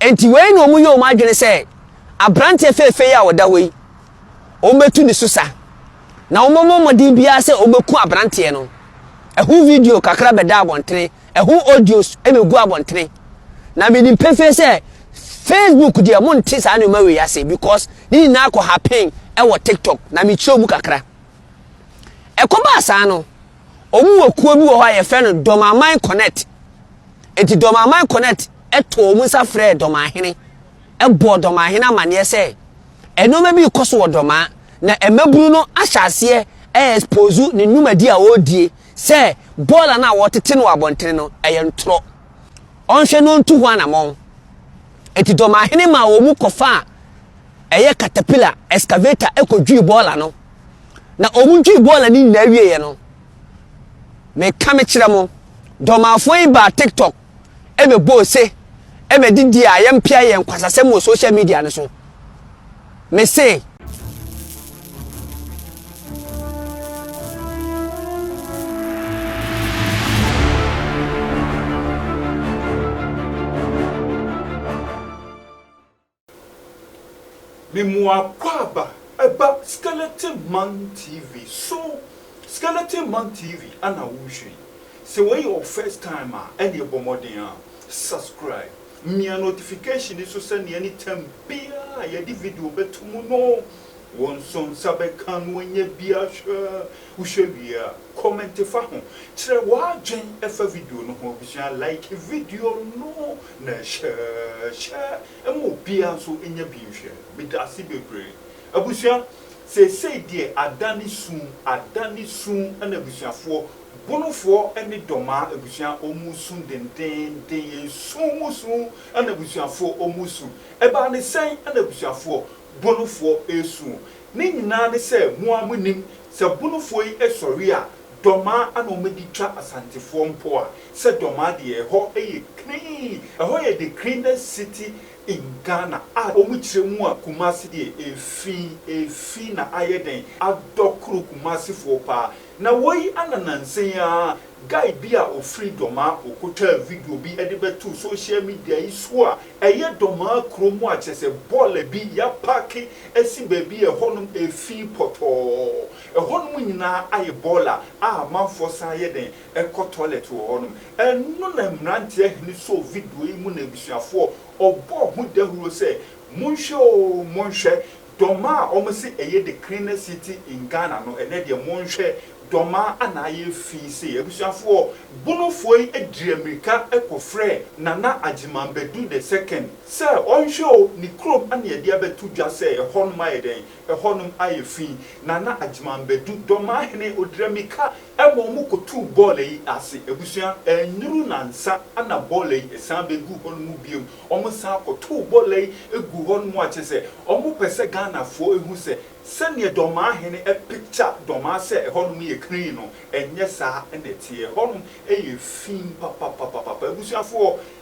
Enti wei na wɔyɛ wɔn adwene sɛ, Aberanteɛ fɛɛfɛ yi a ɔda hɔ yi, wɔbɛtu ne so sa, na wɔbɛbɔ mmɔden biara sɛ wɔbɛku aberanteɛ no. Ɛho video kakra bɛda abɔntene, ɛho audios bɛgu abɔntene. Na menim pefee sɛ, Facebook deɛ monte saa nneɛma wei ase because ne nyinaa kɔ happen wɔ TikTok, na mekyerɛw mu kakra. Ɛkɔbaa saa no, wɔwɔ kuo bi wɔ hɔ a yɛfrɛ no Dɔmaman Connect. Enti Dɔmaman Connect too wɔn nsa frɛɛ Dɔmahene bɔɔ Dɔmahene amanneɛ sɛ nneɛma bi rekɔ so wɔ Dɔmaa na mmabunu no ahyɛ aseɛ ɛɛspozu ne nnwumadi a ɔredie sɛ bɔɔla no a wɔretete no wɔ abɔntene no ɛyɛ ntorɔ. Ɔnhwɛ na ɔntu ho anamɔn. Enti Dɔmahene maa wɔn mu kɔfaa ɛyɛ katapila, excavator, kɔdwii bɔɔla no. Na wɔdwii bɔɔla no nyinaa wieeɛ no, Meka mekyerɛ mo, Dormanfoɔ yi baa TikTok bɛbɔɔ ose ma didie a yɛmpea yɛn nkwasasɛm wɔ social media no so. Mese. Memuakwaaba ɛba skeleton man TV so skeleton man TV ana wo nhwɛ yi sɛ wei yɛ wo first time a ɛneɛ bɔ mmɔden a subscribe mia notification no so sɛneɛ anytime biaa a yɛde video bɛto mu no wo nso nsa bɛka no ɛnyɛ biaa hwɛ wo hwɛ wie a comment fa ho kyerɛ w'adwen ɛfa video no ho abusua like video no Na hyɛ hyɛ ma obiara nso nyɛ bi nhwɛ. Meda ase bebree. Abusua, seesei deɛ ada ne sum, ada ne sum na abusuafoɔ, Bonofoɔ ne Dɔmaa abusua wɔn resu dendeenden, yɛn su mu su na abusuafoɔ wɔn resu. Ɛbaa ne sɛn na abusuafoɔ, Bonofoɔ resu? Ne nyinaa ne sɛ mo ara monim, sɛ Bonofoɔ yi sɔre a, Dɔmaa ana wɔde twa Asantefoɔ mpo a, sɛ Dɔmaa deɛ ɛhɔ yɛ clean, ɛhɔ yɛ the cleanest city in Ghana a wɔkyerɛ mu a Kumasi deɛ ɛfi, ɛfi na ayɛ dɛn adɔ koro Kumasifoɔ paa. Na woi ana nansa yi ara guy bi a ɔfiri Dɔmaa ɔkɔtwaa video bi de bɛtoo social media yi so a ɛyɛ Dɔmaa kuro mu a kyerɛ sɛ bɔɔla bi yɛapaake asi baabi a ɛhɔnom ɛfi pɔtɔɔ. Ɛhɔnom nyinaa ayɛ bɔɔla a amanfoɔ san yɛ dɛn kɔ tɔlɛt wɔ hɔnom. Ɛno na mmeranteɛ hene sɔɔ video yi mu na abusuafoɔ ɔbɔɔ ho dawuro sɛ, Monhwɛ oo, monhwɛ, dɔmmaa a wɔse ɛyɛ the cleanest city in Ghana no, ɛnnɛ deɛ monhwɛ, dɔmmaa na ayɛ fi sei. Abusuafoɔ, Bonofoɔ yi diri amirika kɔfrɛɛ Nana Agyeman Badu the second sɛ ɔnhwɛ oo, ne kurom na yɛde abɛto dwa sɛ ɛhɔnom ayɛ dɛn, Ɛhɔnom ayɛ fi, na na Agyeman Badu, Dɔmahene Odrami ka ma wɔn kɔtuu bɔɔla yi ase. Abusua, annuru nansa na bɔɔla yi san bɛguu hɔnom bio. Wɔn san kɔtoo bɔɔla yi guu hɔnom a kyerɛ sɛ wɔpɛ sɛ Ghanafoɔ hu sɛ sɛdeɛ Dɔmahene apicture Dɔmaa sɛ ɛhɔnom yɛ krenn no, ɛnyɛ saa na ɛteɛ. Ɛhɔnom yɛ fi papapapapa. Abusuafoɔ,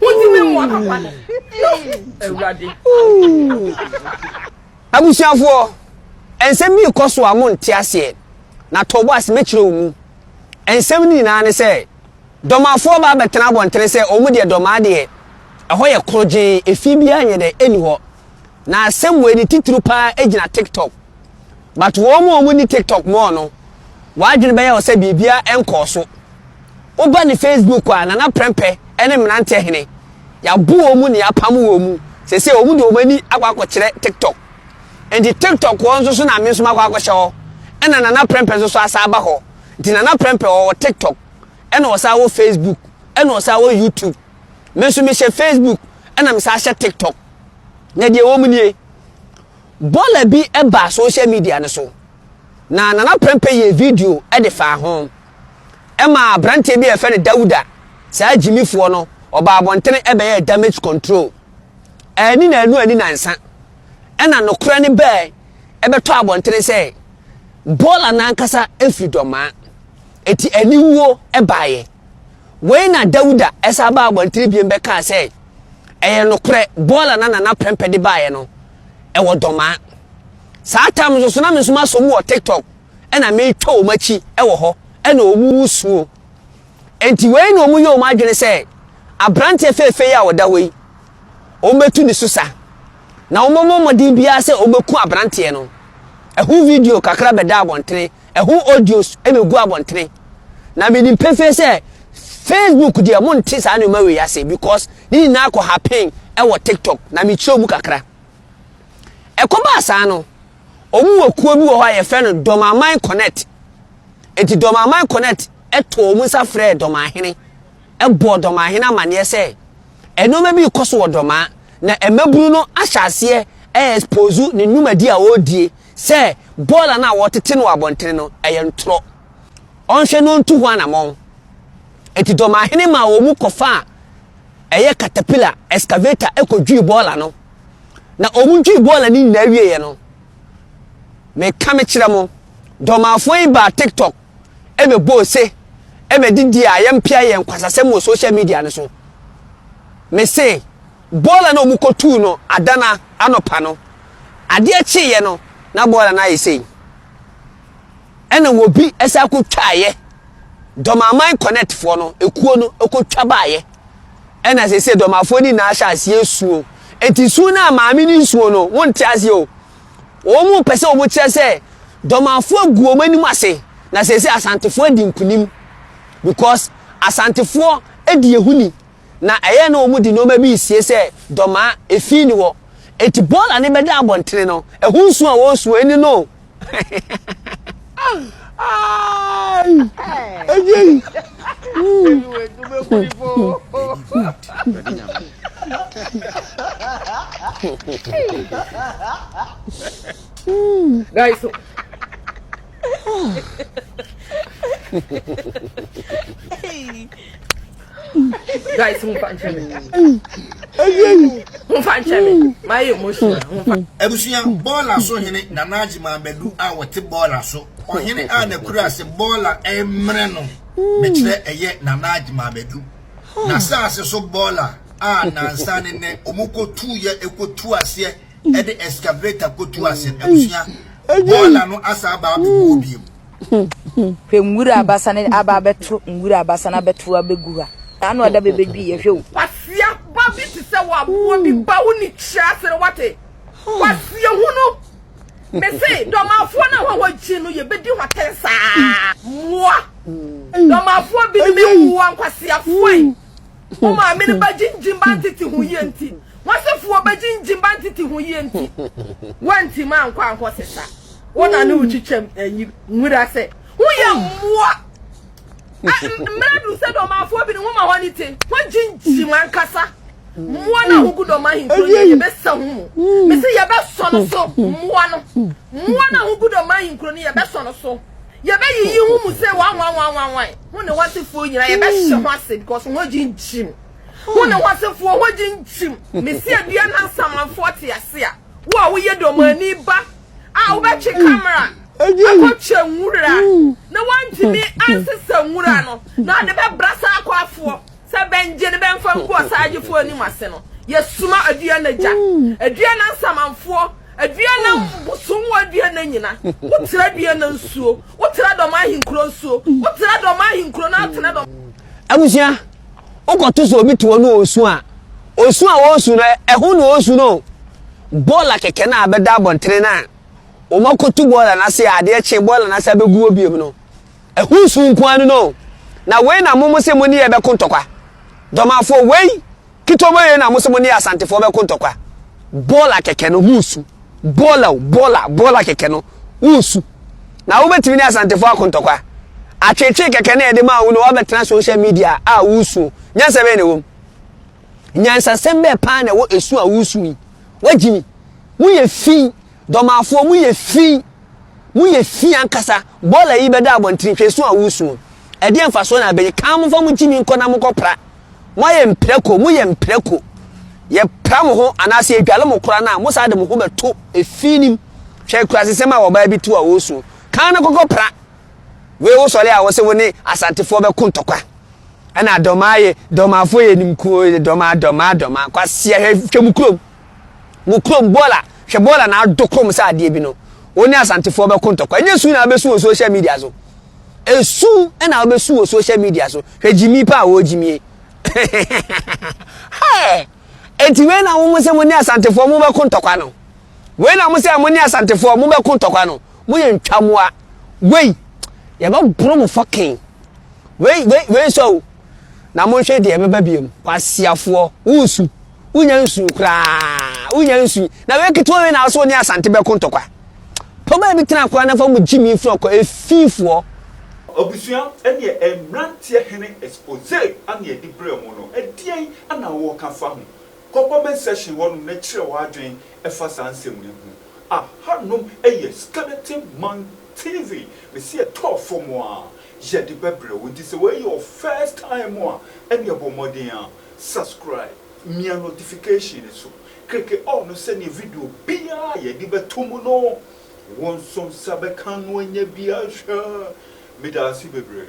Wodi me mmoa papa no. Awurade. Abusuafoɔ, nsɛm bi rekɔ so a monte aseɛ, na tɔ bo ase mɛkyerɛ wo mu. Nsɛm no nyinaa ne sɛ, dɔmafoɔ aba abɛtena abɔntene sɛ wɔn deɛ dɔmaa deɛ, ɛhɔ yɛ korogyenn, efi biara nyɛ dɛ, ɛnni hɔ. Na asɛm wei ne titiriw paa gyina TikTok. But wɔn a wɔn nni TikTok more no, wɔn adwene bɛyɛ wɔn sɛ biribiara nkɔɔ so. Woba ne Facebook a, Nana Prɛmpɛ ne Mmeranteɛ Hene, yɛabo wɔn mu na yɛapam wɔn mu. Seesei wɔn de wɔn ani akɔ akɔkyerɛ TikTok. Nti TikTok hɔ nso so na me nso makɔ akɔhyɛ hɔ. Ɛna Nana Prɛmpɛ nso so asan aba hɔ. Nti Nana Prɛmpɛ ɔwɔ TikTok, ɛna ɔsan wɔ Facebook, ɛna ɔsan wɔ YouTube. Me nso mehyɛ Facebook ɛna me san hyɛ TikTok. Na deɛ ɛwɔ mu nie, bɔla bi baa social media no so na Nana Prɛmpɛ yɛɛ video de faa ho. Ɛma aberanteɛ bi a yɛfrɛ no Dawuda, saa gyimifoɔ no, ɔbaa abɔntene bɛyɛɛ damage control. Ɛni na ɛnu ani nansa. Ɛna nokorɛ no bɛɛ ɛbɛtɔ abɔntene sɛ bɔla no ankasa ɛfiri dɔmaa. Ɛti aniwuo ɛbaeɛ. Wei na Dawuda san baa abɔntene bio bɛkaa sɛ, Ɛyɛ nokorɛ, bɔɔla na Nana Prɛmpɛ de baeɛ no, ɛwɔ Dɔmaa. Saa tam nso so na me nso masɔ mu wɔ TikTok na meretwa wɔn akyi wɔ hɔ na wɔn resuo. Enti wei na wɔyɛ wɔn adwene sɛ aberanteɛ fɛɛfɛ yi a ɔda hɔ yi, wɔbɛtu ne so sa. Na wɔbɛbɔ mmɔden biara sɛ wɔbɛku aberanteɛ no. Ɛho video kakra bɛdaa abɔntene Ɛho audios na egu abɔntene. Na menim pefee sɛ Facebook deɛ monte saa nneɛma wei ase because ne nyinaa kɔ happen wɔ TikTok na mekyerɛw mu kakra. Ɛkɔbaa saa no, wɔn wɔ kuo bi wɔ hɔ a yɛfrɛ no Dɔmaman Connect. Enti Dɔmaman Connect too wɔn nsa frɛɛ Dɔmanhene bɔɔ Dɔmanhene amanneɛ sɛ nneɛma bi rekɔ so wɔ Dɔmaa na mmabunu no ahyɛ aseɛ ɛɛspozu ne nnwumadi a ɔredie Sɛ bɔɔla no a wɔretete no wɔ abɔntene no, ɛyɛ ntorɔ. Ɔnhwɛ na ɔntu ho anammɔn. Enti Dɔmahene maa wɔn mu kɔfaa ɛyɛ katapila, excavator, kɔdwii bɔɔla no. Na wɔdwii bɔɔla no nyinaa wieeɛ no, meka mekyerɛ mo, Dɔmafoɔ yi baa TikTok bɛbɔɔ ose bɛdidii a yɛmpea yɛn nkwasasɛm wɔ social media no so. Mese. Bɔɔla no a wɔkɔtuu no ada no anɔpa no, adeɛ kyeeɛ no, na bɔɔla no ayɛ sei. Ɛna wɔbi san kɔtwaeɛ. Dɔmaman Connectfoɔ no, ekuo no kɔtwa baeɛ. Ɛna seesei Dɔmafoɔ no nyinaa hyɛ aseɛ suo. Enti suo no a maame no nsuo no, wonte aseɛ o. Wɔn pɛ sɛ wɔkyerɛ sɛ Dɔmafoɔ agu wɔn anim ase, na seesei Asantefoɔ adi nkunim because Asantefoɔ di yɛn ho ni. na ɛyɛ a na wɔde nneɛma bi resie sɛ dɔmaa, efi nni hɔ. Enti bɔɔl a ne bɛda abɔntene no, ɛho nsu a wɔresu ɛnni no. Guys, Guys, who fan chemi? Who fan chemi? My emotion. Ebusua bɔɔla so hene Nana Agye Mabadu a wɔte bɔɔla so. Ɔhene a n'akura ase bɔɔla mmerɛ no mekyerɛ ɛyɛ Nana Agye Mabadu. N'asaase so bɔɔla a nansa ne nɛ ɔmo kɔtu yɛ ɛkɔtu aseɛ ɛde excavator kɔtu aseɛ. Ebusua bɔɔla no asa aba abɛgu hɔ biom. Hwɛ nwura abasa ne aba abɛto nwura abasa na abɛto abɛgu ha. Na ano ada bɛbɛdwi yɛ hwɛ o. Kwasia ba bi te sɛ waboɔ bi ba wo ni kyerɛ ase no wate. Kwasia hu no. Me se dɔmafoɔ no hɔ hɔ gyi no yɛbɛdi hɔ tɛn saa. Mmoa. Dɔmafoɔ bi no mmoa nkwasiafoɔ yi. Wo maame no bɛgye ngyim ba ntete ho yie nti, w'asefoɔ bɛgye ngyim ba ntete ho yie nti, woantim ankɔ ankɔ sesa. Wo na ne wo kyekyɛm ayi nwura sɛ woyɛ mmoa. Mmerɛ duru sɛ dɔmafoɔ bi ne woma hɔ ne te, woagye ngyim ankasa. Mmoa no a wogu dɔm ahemfo no yɛbɛsɛ ho mu. Mese yɛbɛsɔ no so, mmoa no. Mmoa no a wogu dɔm ahenkuro no yɛbɛsɔ no so. Yɛbɛyiyi ho mu sɛ wanwanwanwanwan, ho ne ho asefoɔ nyinaa, yɛbɛhye ho ase, because ho gyingyim. Ho ne ho asefoɔ, ho gyingyim. Mese Aduana Nsamanfoɔ te ase a, wo a woyɛ Domani ba a wobɛtwe camera akɔtwa nwura na woantumi ansesa nwura no na wode bɛbra saa akwafoɔ sɛ bɛngye no bɛmfa ngu ɔsaagyefoɔ anim ase no, yɛsoma Aduana gya, Aduana Nsamanfoɔ. Adua na bosom wɔ adua na nyina. Wo tra adua na nsuo. Wo tra dɔm ahenkuro nsuo. Wo tra dɔm ahenkuro na atena dɔm. Abusua, wokɔto sɛ obi te hɔ no ɔresu a, osu a ɔresu no, ɛho na ɔresu no. Bɔɔla kɛkɛ no a bɛda abɔntene no a, wɔakɔtu bɔɔla no ase a adeɛ kye bɔɔla no ase a bɛgu hɔ biom no, ɛho su nko ara no no. Na wei na mo mo se mo ne yɛ bɛko ntɔkwa. Dɔmafoɔ, wei. Ketewa bɛyɛ na mo sɛ mo ne Asantefoɔ bɛko ntɔkwa. Bɔɔla kɛkɛ no, ho nsu. Bɔɔla o, bɔɔla, bɔɔla kɛkɛ no, wo nsu. Na wobɛtumi ne Asantefoɔ ako ntɔkwa. Atweetwee kɛkɛ na yɛde maa wo na woabɛtena social media a woresu o. Nyansa bɛn na ɛwɔ mu? Nyansasɛm bɛn paa na ɛwɔ esu a woresu yi? Woagye mi. Moyɛ fi. Dɔmaafoɔ, moyɛ fi. Moyɛ fi ankasa. Bɔɔla yi bɛda abɔntene, hwɛ esu a woresu no. Ɛdeɛn mfasoɔ na abɛnya? Kaa momfa mo gyimi nkɔ na monkɔpra. Moayɛ mprako, moyɛ mprako. Yɛpra mo ho anaasɛ yɛdwale mo koraa no a, mosan de mo ho bɛto efi no mu. Hwɛ akurasesɛm a ɔbaa bi too a ɔresuo. Kan no kɔkɔpra. Wei wosɔre a wose wo ne Asantefoɔ bɛko ntɔkwa. Ɛna Dɔmaa yɛ, Dɔmaafoɔ yɛ animkuo, Dɔmaa, Dɔmaa, Dɔmaa. Kwasea, hwɛ, hwɛ mo kurom. Mo kurom bɔɔla hwɛ bɔɔla na ado kom sɛ adeɛ bi no wo ne asantefoɔ bɛko ntɔkwa ɛnyɛ su na wobɛsu wɔ social media so ɛsu na wobɛsu wɔ social media so hwɛ gyimi pa a wɔ gyimie ɛnti wei na wo sɛ mo ne asantefoɔ mo bɛko ntɔkwa no wei na mo sɛ mo ne asantefoɔ mo bɛko ntɔkwa no mo yɛ ntwamoa wei yɛbɛboro mo fɔken wei wei wei sɛ o na monhwɛ deɛ ɛbɛba biom kwasiafoɔ wosu wonya nsuo koraa wonya nsuo na wei ketewa wei na aso ne asante bɛko ntɔkwa pɔbaa bi tena koraa na fa mu gyi mi firi ɔkɔ efifoɔ Abusua ɛneɛ mmeranteɛ hene expose a na yɛde brɛɛ mo no ɛdeɛn na woka fa ho? Kɔ comment section hɔ nom na kyerɛ w'adwen ɛfa saa nsɛm no ho. Aha nom ɛyɛ Skeleton Man TV mese ɛtɔɔ fɔm a yɛde bɛbrɛ wo nti sɛ wei yɛ wo first time a ɛneɛ bɔ mmɔden a. Subscribe, mia notification no so, kreke all no sɛdeɛ video biara a yɛde bɛto mu no, wo nso nsa bɛka no anya bi ahwɛ. Medaase bebree.